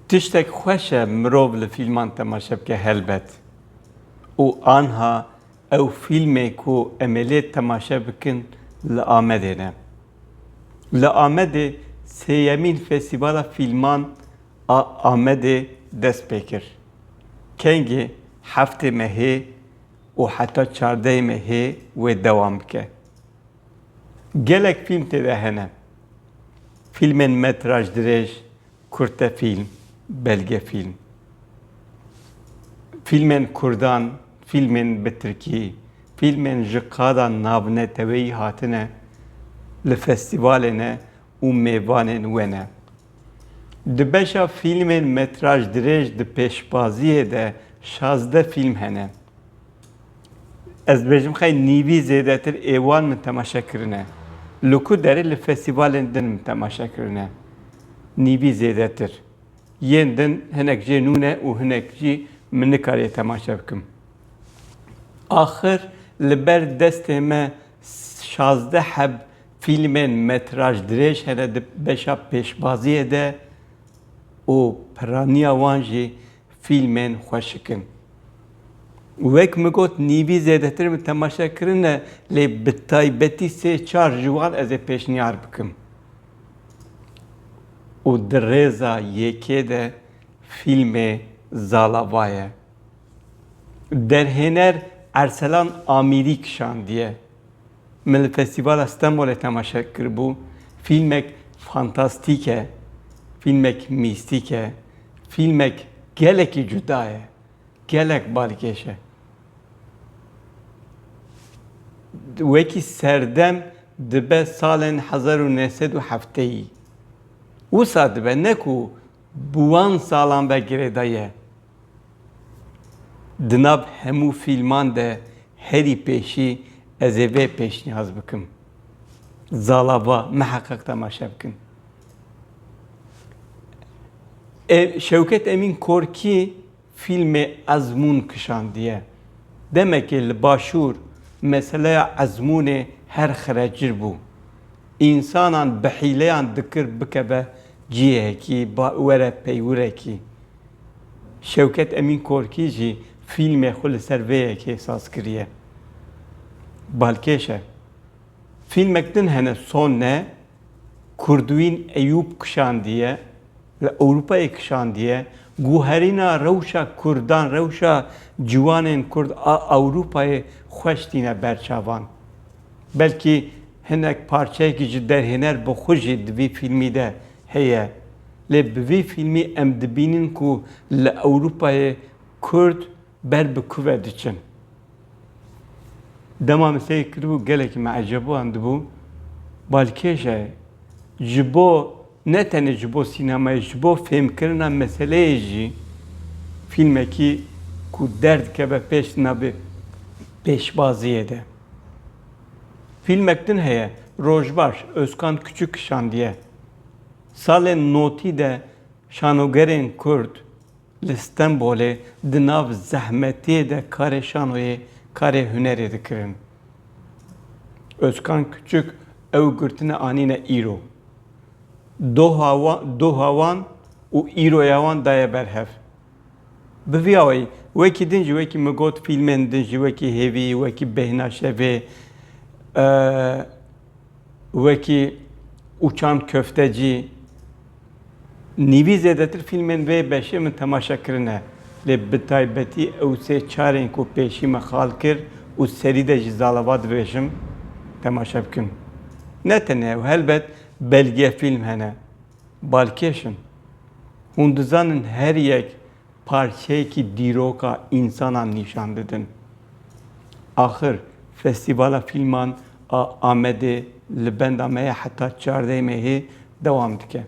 Tiştek xweş e mirov li fîlman temaşe bike helbet û anha ew fîlmê ku em ê lê temaşe bikin li Amedê ne. Li Amedê sêyemîn Festîvala Fîlman a Amedê dest pê kir. Kengê heftê me hê û heta çardeyê me hê wê dewam bike. Gelek fîlm tê de hene. Fîlmên metraj dirêj, kurtefîlm, belgefîlm. Fîlmên kurdan, fîlmên bi tirkî, fîlmên ji qada navneteweyî hatine li festîvalê ne û mêvanên we ne. Di beşa fîlmên metraj dirêj di pêşbaziyê de şazdeh fîlm hene. Ez dibêjim xey nîvî zêdetir ê wan min temaşe kirine. Li ku derê li festîvalên din min temaşe kirine. Nîvî zêdetir. Yên din hinek jê nû ne û hinek jî min nikariye temaşe bikim. Axir li ber destê me Şazdeh heb fîlmên metraj dirêj hene di beşa pêşbaziyê de û piraniya wan jî fîlmên xweşik in. Wek min got nîvî zêdetir min temaşe kirine lê bi taybetî sê çar ji wan ez ê pêşniyar bikim û di rêza yekê de fîlmê Zalava ye. Derhêner Erselan Amîrî kişandiye. Min li Festîvala Stenbolê temaşe kiribû. Fîlmek fantastîk e, fîlmek mîstîk e, fîlmek gelekî cuda ye, gelek balkêş e. Wekî serdem dibe salên hezar û neh sed û hefteyî. Wisa dibe ne ku bi wan salan ve girêdayî ye. Di nav hemû fîlman de herî pêşî ez ê vê pêşnîyaz bikim. Zala va miheqeq temaşe bikin. Şewket Emîn Korkî fîlmê Ezmûn kişandiye. Demekê li başûr meseleya ezmûnê her xirecir bû. Însanan bi hîleyan dikir bikeve cihekî, were peywirekî. Şewket Emîn Korkî jî fîlmê xwe li ser vê yekê saz kiriye. Balkêş e. Fîlmek din hene son ne, Kurdwîn Eyûp kişandiye, li Ewropayê kişandiye, guherîna rewşa Kurdan, rewşa ciwanên Kurd a Ewropayê xweş tîne ber çavan. Belkî hinek parçeyekî ji derhêner bi xwe jî di vî fîlmî de heye. Lê bi vî fîlmî em dibînin ku li Ewrûpayê Kurd ber bi kuve diçin. Dema min seyr kiribû gelekî min ecebuan dibû. Balkêş e ji bo ne tenê ji bo sînemayê ji bo fêmkirina meseleyê jî fîlmekî ku derdikeve pêş di navê pêşbaziyê de. Fîlmek din heye Rojbaş Ozkan Kuçuk kişandiye. Salên notî de şanogerên Kurd li Stenbolê di nav zehmetiyê de karê şanoyê, karê hunerê dikirin. Ozkan Kuçuk ew girtine anîne îro. Doha wan, doha wan û îroya wan daye ber hev. Bi vî awayî, wekî din jî wekî min got fîlmên din jî wekî Hêvî, wekî Bêhna Şevê, Wekî Uçan Köftecî, nîvî zêdetir fîlmên vê beşê min temaşe kirine, lê bi taybetî ew sê çarên ku pêşî me xal kir û serî de jî zalava dibêjim temaşe bikin. Ne tenê ew, helbet belgeyefîlm hene balkêş in. Hûn dizanin her yek Parçeyekî dîroka însanan nîşan didin. Axir Festîvala Fîlman a Amedê li benda me ye heta çardeyê Mehê dewam dike.